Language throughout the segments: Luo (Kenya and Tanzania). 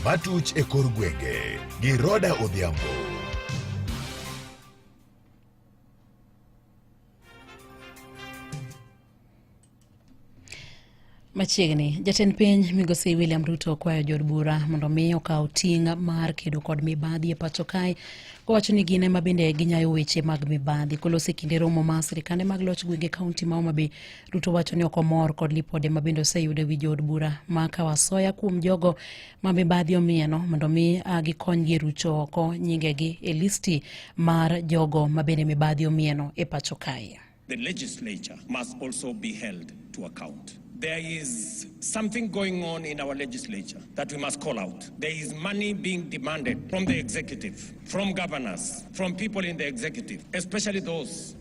Matuch e kor gwenge gi Roda Odhiambo. Machiegni, jatend piny migosi William Ruto kwayo jod bura mondo mi okaw ting' mar kedo kod mibadhi e pacho kae kowacho ni gin ema bende ginyayo weche mag mibadhi kolosi kinde romo ma sirikande mag loch gwenge kaunti ma Homa Bay Ruto wacho ni ok omor kod lipode ma bende oseyudo e wi jood bura ma Kawasoya kuom jogo ma mibadhi omieno mondo mi ah, gikonygi e rucho oko nyingegi e listi mar jogo ma bende mibadhi omieno e pacho kae. The legislature must also be held to account. There is something going on in our legislature that we must call out. There is money being demanded from the executive, from governors, from people in the executive, especially those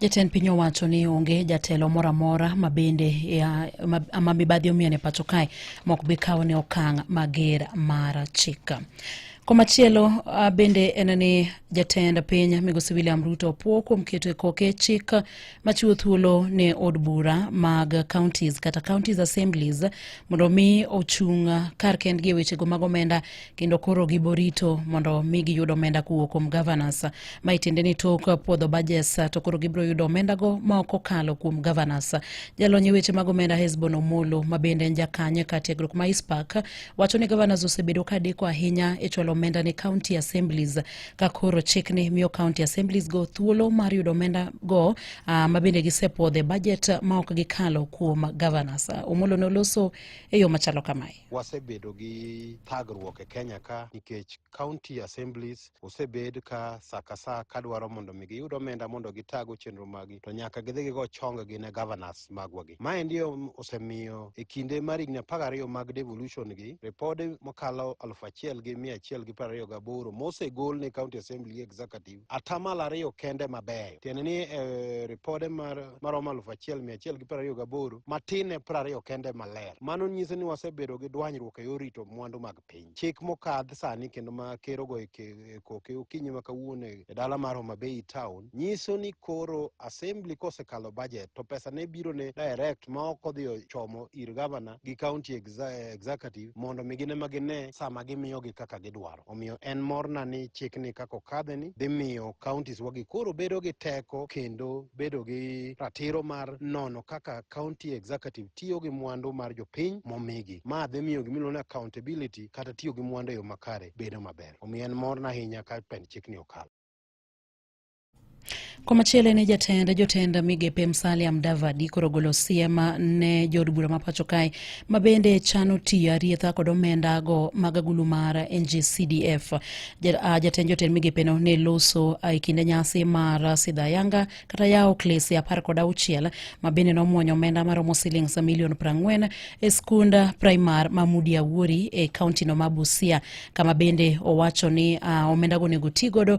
Jatend piny owacho ni onge jatelo moro amora ma bende ma mibadhi omiyo ne pacho kae mok bi kawo ne okang' mager mar chik. Komachielo ah, bende en ni jatend piny migosi William Ruto opuo kuom keto e koke chik machiwo thuolo ne od bura mag counties kata counties assemblies mondo mi ochung' kar kendgi e wechego mag omenda kendo koro giborito mondo mi giyud omenda kowuok kuom governors ma itiende ni tok puodho budgets to koro gibiro yudo omenda go ma ok okalo kuom governors. Jalony e weche mag omenda Hesbon Omolo ma bende en jakanye ka tiegruok ma ISPAC wacho ni governors osebedo ka deko ahinya e chwalo omenda ne county assemblies ka koro chikni miyo county assemblies go thuolo mar yudo omenda go uh, ma bende gisepuodhe budget ma ok gikalo kuom governors. Omolo noloso e yo machalo kamae. wasebedo gi thagruok e Kenya ka nikech county assemblies osebed ka saka saa ka dwaro mondo mi giyud omenda mondo gitago chenro magi to nyaka gidhi gigo chonge gi ne governors magwa gi. Mae ndi osemiyo e kinde mar higni apar gariyo mag devolution gi ripode mokalo aluf achiel gi mia achiel gi piero ariyo gaboro mosegol ne county assembly gi executive atamalo ariyo kende mabeyo tiende ni e ripode maromo alufu achiel mia achiel gi piero ariyo gaboro matin e piero ariyo kende maler mano nyiso ni wasebedo gi dwanyruok e yor rito mwandu mag piny chik mokadh sani kendo ma kerogo e, e koke okinyi ma kawuono e, e dala mar Homa Bay town nyiso ni koro assembly kosekalo budget to pesa ne biro ne direct ma ok odhi ochomo ir gavana gi county executive mondo mi gine ma gine sama gimiyogi kaka gidwaro Omiyo en morna ni chikni kaka okadheni dhi miyo counties wagi koro bedo gi teko kendo bedo gi ratiro mar nono kaka county executive tiyo gi mwandu mar jopiny momigi. Ma dhi miyo gima iluongo ni accountability kata tiyo gi mwandu e yo makare bedo maber. Omiyo en morna ahinya ka pend chikni okal. Komachielo ne jatend jotend migepe Musalia Mudavadi koro golo siem ne jood bura ma pacho kae ma bende chano tiyo arietha kod omenda go mag agulu mar NGCDF. Ah, jatend jotend migepe no ne loso ah, e kinde nyasi mar Sidha Yanga kata yawo klese apar kod auchiel ma bende nomwonyo omenda maromo silings milion prang'wen e skund primar ma Mudi Awuori e kaunti no ma Busia kama bende owacho ni ah, omenda go onego ti godo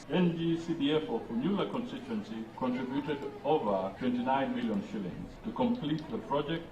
NGCDF of Unyula constituency contributed over 29 million shillings to complete the project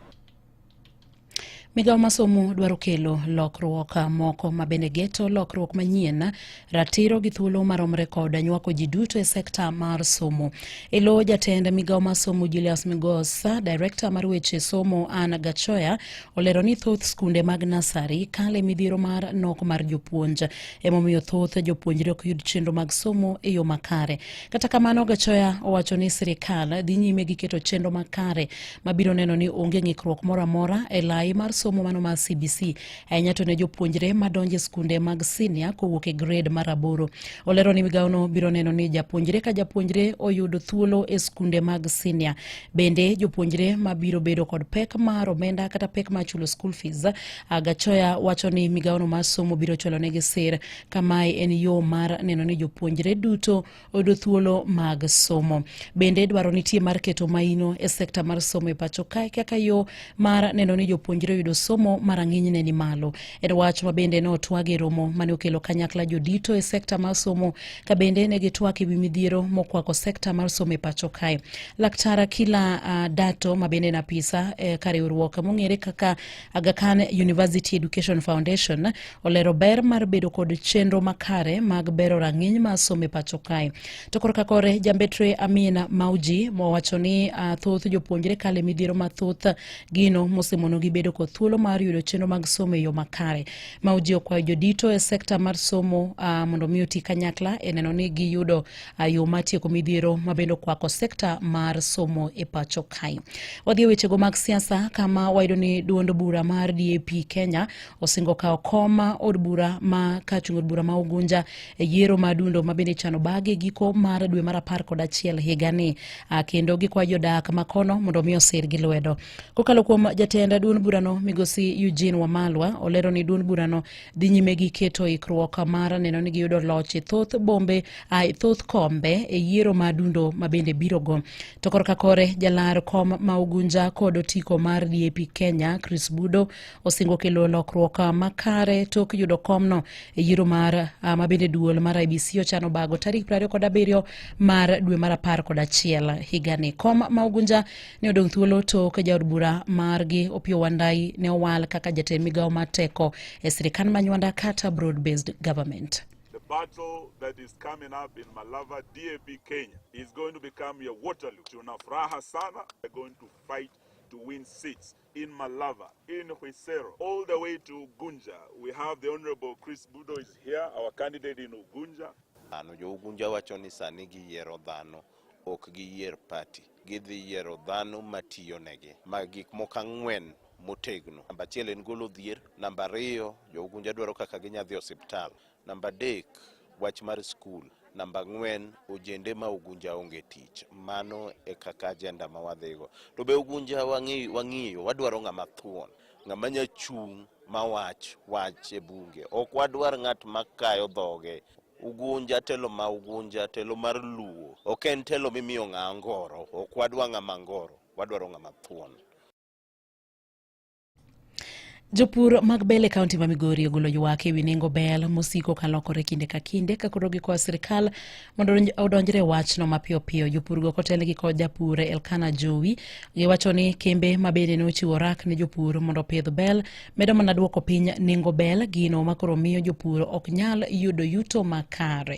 Migawo masomo dwaro kelo lokruok moko ma bende geto lokruok manyien, ratiro gi thuolo maromre kod nywako ji duto e sekta mar somo. Elo jatend migawo masomo Julius Migosa, direkta mar weche somo Anna Gachoya olero ni thoth skunde mag nasari kale midhiero mar nok mar jopuonj emomiyo thoth jopuonjre ok yud chenro mag somo e yo makare kata kamano gachoya owacho ni sirikal dhi nyime gi keto chenro makare mabiro neno ni onge ng'ikruok moro amora e lai mar somo mano mar cbc ahinya to ne jopuonjre madonjo e skunde mag sinia kowuok e grade mar aboro olero ni migawono biro neno ni japuonjre ka japuonjre oyudo thuolo e skunde mag sinia Bende jopuonjre ma biro bedo kod pek mar omenda kata pek mar chulo school fees, Gachoya wacho ni migawono mar somo biro chulonegi sir kamae en yo mar neno ni jopuonjre duto oyudo thuolo mag somo. Bende dwaro nitie mar keto maino e sekta mar somo e pacho kae kaka yo mar neno ni jopuonjre oyudo somo ma rang'inyne ni malo. En wach ma bende notwag e romo mane okelo kanyakla jodito e sekta mar somo ka bende ne gitwak e wi midhiero mokwako sekta mar somo e pacho kae. Laktar Akila uh, Dato ma bende en apisa e ka riwruok mong'ere kaka Aga Khan University Education Foundation olero ber mar bedo kod chenro makare mag bero rang'iny mar somo e pacho kae. To korka kore jambetre Amina Mauji mowacho ni uh, thoth jopuonjre kale midhiero mathoth gino mosemonogi bedo kod thuolo mar yudo chenro mag somo e yo makare. Mauji okwayo jodito e sekta mar somo uh, mondo mi oti kanyakla e neno ni giyudo uh, yo mar tieko midhiero mabende okwako sekta mar somo e pacho kae. Wadhi e wechego mag siasa kama wayudo ni duond bura mar DAP Kenya osingo kawo kom od bura ma ka chung od bura ma Ugunja e yiero ma dundo ma bende ichano bagi e giko mar dwe mar apar kod achiel higani ah, kendo gikwayo jodak ma kono mondo omi osir gi lwedo. Kokalo kuom jatend duond burano migosi Eugene Wamalwa olero ni duond burano dhi nyime gi keto ikruok mar neno ni giyudo loch e thoth bombe ah, e thoth kombe e yiero ma dundo ma bende birogo. To korka kore jalar kom ma Ugunja kod otiko mar DAP Kenya Chris Budo osingo kelo lokruok makare tok yudo komno e yiero mar ah, ma bende duol mar IBC ochano bago tarik 27 kod abiriyo mar dwe mar apar kod achiel higani. Kom ma Ugunja ne odong' thuolo tok jaod bura margi Opiyo Wandai ne owal kaka jatend migawo mar teko e sirikand manywanda kata broad based government. The battle that is coming up in Malava DAP Kenya is going to become a Waterloo. Tuna furaha sana. We're going to fight to win seats. in Malava, in Huisero, all the way to Ugunja. We have the Honorable Chris Budo is here, our candidate in Ugunja. Ano jo Ugunja wacho ni sani giyiero dhano ok giyier party. Gidhi yiero dhano matiyo negi. Ma gik moko ang'wen motegno. Namba achiel en golo dhier, namba ariyo jo Ugunja dwaro kaka ginyadhi osiptal. Namba adek, wach mar skul. Namba ang'wen, ojende ma Ugunja onge tich. Mano e kaka ajenda ma wadhigo. To be Ugunja wang'i- wang'iyo, wadwaro ng'ama thuon, ng'ama nya chung' ma wach wach e bunge. Ok wadwar ng'at ma kayo dhoge. Ugunja, telo ma Ugunja, telo mar Luo, ok en telo mimiyo ng'a angoro. Ok wadwa ng'ama angoro, wadwaro ng'ama thuon. Jopur mag bel e kaunti ma Migori ogolo ywak e wi nengo bel mosiko ka lokore kinde ka kinde ka koro gikwayo sirkal mondo odonjre wachno mapiyo piyo. Jopurgo kotelgi kod japur Elkana Jowi giwacho ni kembe ma bende ne ochiwo rak ne jopur mondo opidh bel medo mana duoko piny nengo bel, gino ma koro miyo jopur ok nyal yudo yuto makare.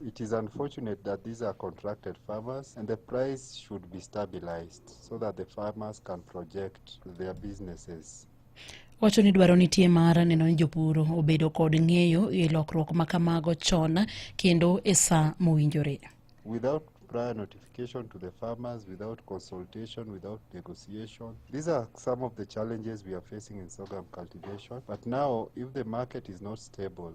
It is unfortunate that these are contracted farmers and the price should be stabilized so that the farmers can project their businesses. Wacho ni dwaro nitie mar neno ni jopur obedo kod ng'eyo e lokruok ma kamago chon kendo e sa mowinjore. Without prior notification to the farmers, without consultation, without negotiation. These are some of the challenges we are facing in sorghum cultivation. But now, if the market is not stable,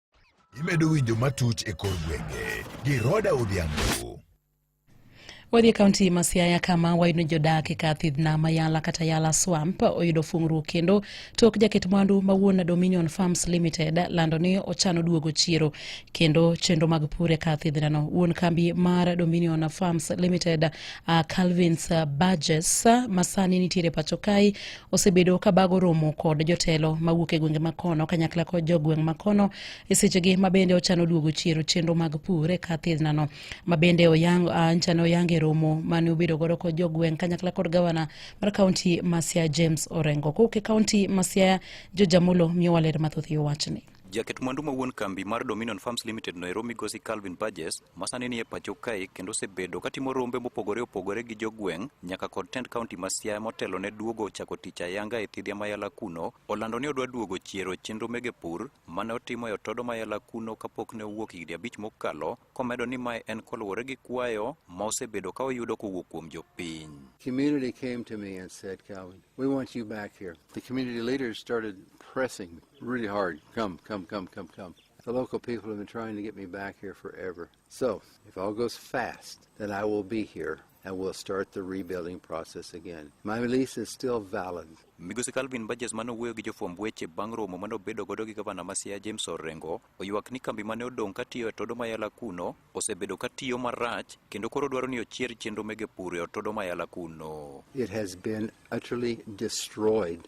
Imedo winjo matuch e kor gwenge gi Roda Odhiambo. Wadhi e kaunti ma Siaya kama wayudo jodak e kar thieth nam Ayala kata Yala Swamp oyudo fungruok kendo tok jaket mwandu ma wuon Dominion Farms Limited lando ni ochano duogo chiro kendo chenro mag pur e kar thiedhnano. Wuon kambi mar Dominion Farms Limited uh, Calvins uh, Burgess uh, masani nitiere pacho kae osebedo ka bago romo kod jotelo mawuok e gwenge makono kanyakla kod jogweng' makono e sechegi mabende ochano duogo chiero chenro mag pur e kar thiedhnano mabende oyang nchane oyang e romo mane obedo godo kod jogweng' kanyakla kod gavana mar kaunti ma Siaya James Orengo kowuok e kaunti ma Siaya George Amulo miyowa ler mathoth e wachni. Jaket mwandu ma wuon kambi mar Dominion Farms Limited noero migosi Calvin Burgess masani ni e pacho kae kendo osebedo katimo rombe mopogore opogore gi jogweng' nyaka kod tend kaunti ma Siaya motelo ne duogo chako tich ayanga e thidhia mayala kuno olando ni odwa duogo chiero chenro mege pur mane otimo e otodo mayala kuno kapok ne owuok higni abich mokalo komedo ni mae en koluwore gi kwayo ma osebedo ka oyudo kowuok kuom jopiny. Community came to me and said, Calvin, we want you back here. The community leaders started pressing Really hard. Come, come, come, come, come. The local people have been trying to get me back here forever. So, if all goes fast, then I will be here and we'll start the rebuilding process again. My release is still valid. Migosi Calvin Burgess mane owuoyo gi jofwamb weche bang' romo mane obedo godo gi gavana ma Siaya James Orengo oywak ni kambi mane odong' katiyo e Todo Mayala kuno osebedo katiyo marach kendo koro dwaro ni ochier chenro mege pur e Otodo Mayala kuno. It has been utterly destroyed.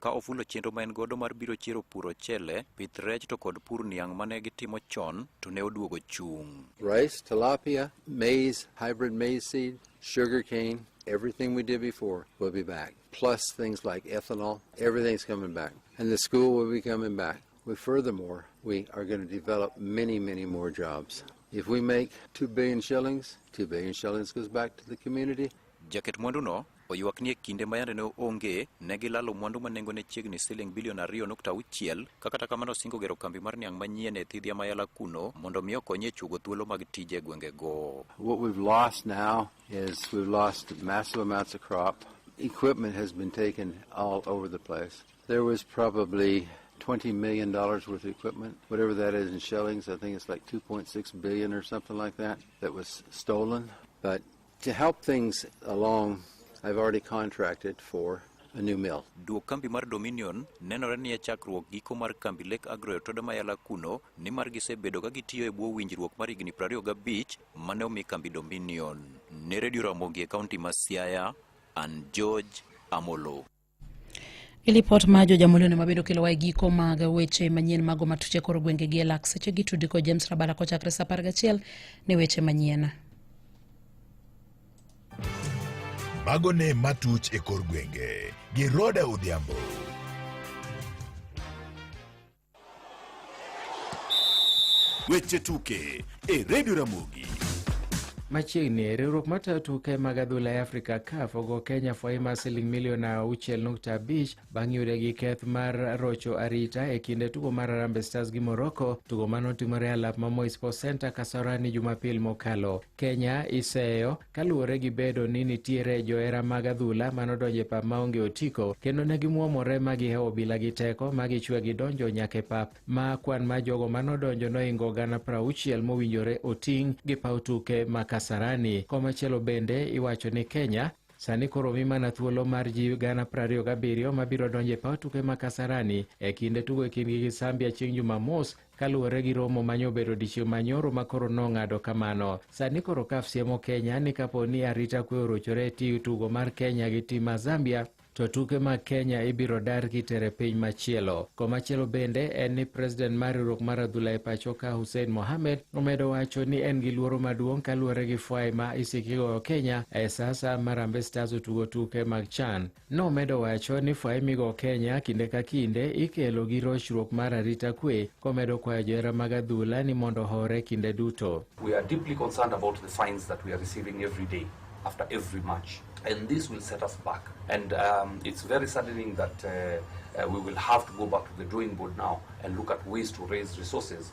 ka ofulo chenro ma en godo mar biro chiero pur ochele, pith rech to kod pur niang' mane gitimo chon to ne oduogo chung'. Rice, tilapia, maize, hybrid maize seed, sugar cane, everything we did before will be back. Plus things like ethanol, everything's coming back. And the school will be coming back. We furthermore, we are going to develop many, many more jobs. If we make 2 billion shillings, 2 billion shillings goes back to the community. Jaket mwanduno Oywak ni e kinde ma yande ne onge, ne gilalo mwandu ma nengone chiegni siling bilion ariyo nukta auchiel, ka kata kamano osingo gero kambi mar niang' manyien e thidhia ma Yala kuno mondo mi okonye e chuogo thuolo mag tije e gwengego. What we've lost now is we've lost massive amounts of crop. Equipment has been taken all over the place. There was probably $20 million worth of equipment, whatever that is in shillings. I think it's like 2.6 billion or something like that, that was stolen. But To help things along, I've already contracted for a new mill. Duok kambi mar Dominion nenore ni e chakruok giko mar kambi Lake Agro e Toda Mayala kuno nimar gisebedo ka gitiyo e bwo winjruok mar higni 25 mane omi kambi Dominion. Ne Radio Ramogi e kaunti ma Siaya, an George Amolo. Ilipot ma jo jamulino ma bende okelowa e giko mag weche manyien mago matuche koro gwenge gi elak seche gi tudi kod James Rabara kochakre sa apar gachiel ne weche manyien. Mago ne matuch e kor gwenge gi Roda Odhiambo. Weche tuke e redio Ramogi. Machiegni riwruok matayo tuke mag adhula e Afrika CAF ogo Kenya fwai mar siling milion auchiel nukta abich bang' yude gi keth mar rocho arita e kinde tugo mar Harambee Stars gi Morocco, tugo mane otimore e alap ma Moi Sports Center Kasarani Jumapil mokalo. Kenya iseyo Kaluwore gi bedo ni nitiere johera mag adhula ma nodonjo e pap maonge otiko kendo ne gimwomore ma gihewo obila gi teko ma gichwe gidonjo nyaka e pap ma kwan ma jogo ma nodonjo noingo gana prauchiel mowinjore oting' gi paw tuke ma Kasarani. Komachielo bende iwacho ni Kenya sani koro omi mana thuolo mar ji gana prariyo gabiriyo mabiro donjo e paw tuke ma Kasarani e kinde tugo e kindgi gi Zambia chieng' Jumamos Kaluwore gi romo ma nyobedo odiechieng' ma nyoro ma koro nong'ado kamano, sani koro CAF siemo Kenya ni kapo ni arita kwe orochore e ti tugo mar Kenya gi tim mar Zambia, to tuke mag Kenya ibiro dar kitere piny machielo. Komachielo bende en ni president mar riwruok mar adhula e pacho ka Hussein Mohamed omedo wacho ni en gi luoro maduong' kaluwore gi fwai ma isiki goyo Kenya e sasa ma Harambee Stars otugo tuke mag CHAN. Nomedo wacho ni fwai migo Kenya kinde ka kinde ikelo gi rochruok mar arita kwe komedo kwayo johera mag adhula ni mondo hore kinde duto. We are deeply concerned about the fines that we are receiving every day after every match and this will set us back and um, it's very saddening that uh, uh, we will have to go back to the drawing board now and look at ways to raise resources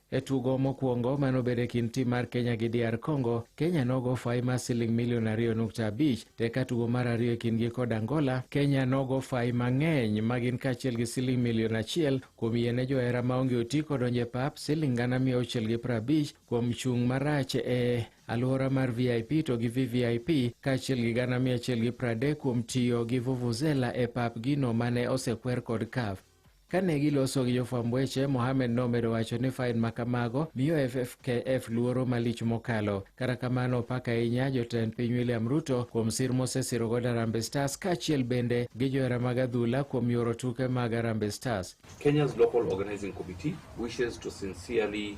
E tugo mokwongo mane obedo e kind tim mar Kenya gi DR Congo, Kenya nogo fayi mar siling milion ariyo nukta abich to eka tugo mar ariyo e kindgi kod Angola, Kenya nogo fayi mang'eny ma gin kaachiel gi siling milion achiel kuom yie ne johera maonge otiko donjo e pap, siling gana mia auchiel gi piero abich kuom chung' marach e alwora mar VIP to gi VVIP kaachiel gi gana mia achiel gi piero adek kuom tiyo gi vuvuzela e pap gino mane osekwer kod CAF. Kane giloso gi jofwamb weche, Mohamed nomedo wacho ni fain ma kamago miyo FFKF luoro malich mokalo. Kata kamano, opak ahinya jotend piny William Ruto kuom sir mosesirogo Harambee Stars kaachiel bende gi johera mag adhula kuom yoro tuke mag Harambee Stars. Kenya's Local Organizing Committee wishes to sincerely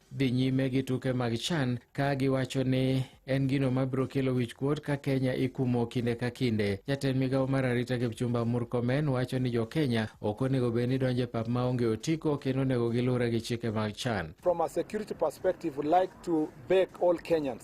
dhi nyime gi tuke mag chan ka giwacho ni en gino mabiro kelo wichkuot ka Kenya ikumo kinde ka kinde. Jatend migawo mar arita Kipchumba Murkomen wacho ni jo Kenya ok onego bed ni donje pap maonge otiko kendo onego gilure gi chike mag chan. From a security perspective, we like to beg all Kenyans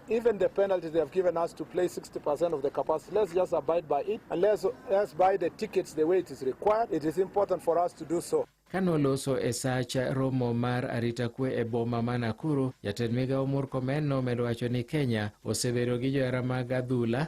Even the penalties they have given us to play 60% of the capacity, let's just abide by it and let's, let's buy the tickets the way it is required. It is important for us to do so. Kanoloso e sach romo mar arita kwe e boma ma Nakuru, jatend migawo Murkomen nomedo wacho ni Kenya osebedo gi johera mag adhula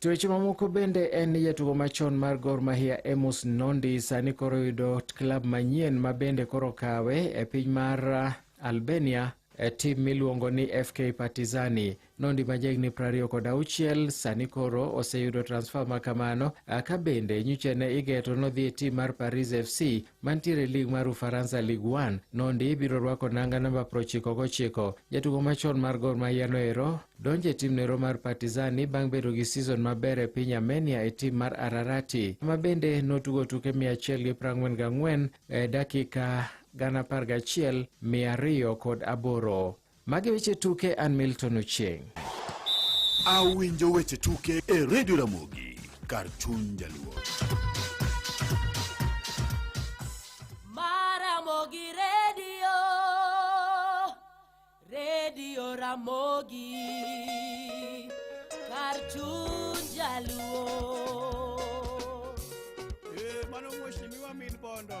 To weche mamoko bende en ni jatugo machon mar Gor Mahia Amos Nondi sani koro yudo klab manyien ma bende koro kawe e piny mar uh, Albania e tim miluongo ni FK Partizani. Nondi ma jahigni prariyo kod auchiel sani koro oseyudo transfer ma kamano uh, ka bende nyichene igeto nodhi e tim mar Paris FC mantiere e lig mar Ufaransa Ligue 1 nondi biro rwako nanga namba 99. Jatugo machon mar Gor Mahia noero donjo e tim nero mar Partizani bang' bedo gi season maber e piny Armenia e tim mar Ararati ma bende notugo tuke 144 e dakika gana 11 mia ariyo kod aboro. Magi weche tuke an Milton Ochieng. Awinjo weche tuke e Radio Ramogi kar chuny jaluo. Maramogi Radio, Radio Ramogi, kar chuny jaluo. Eh, mano mheshimiwa min bondo.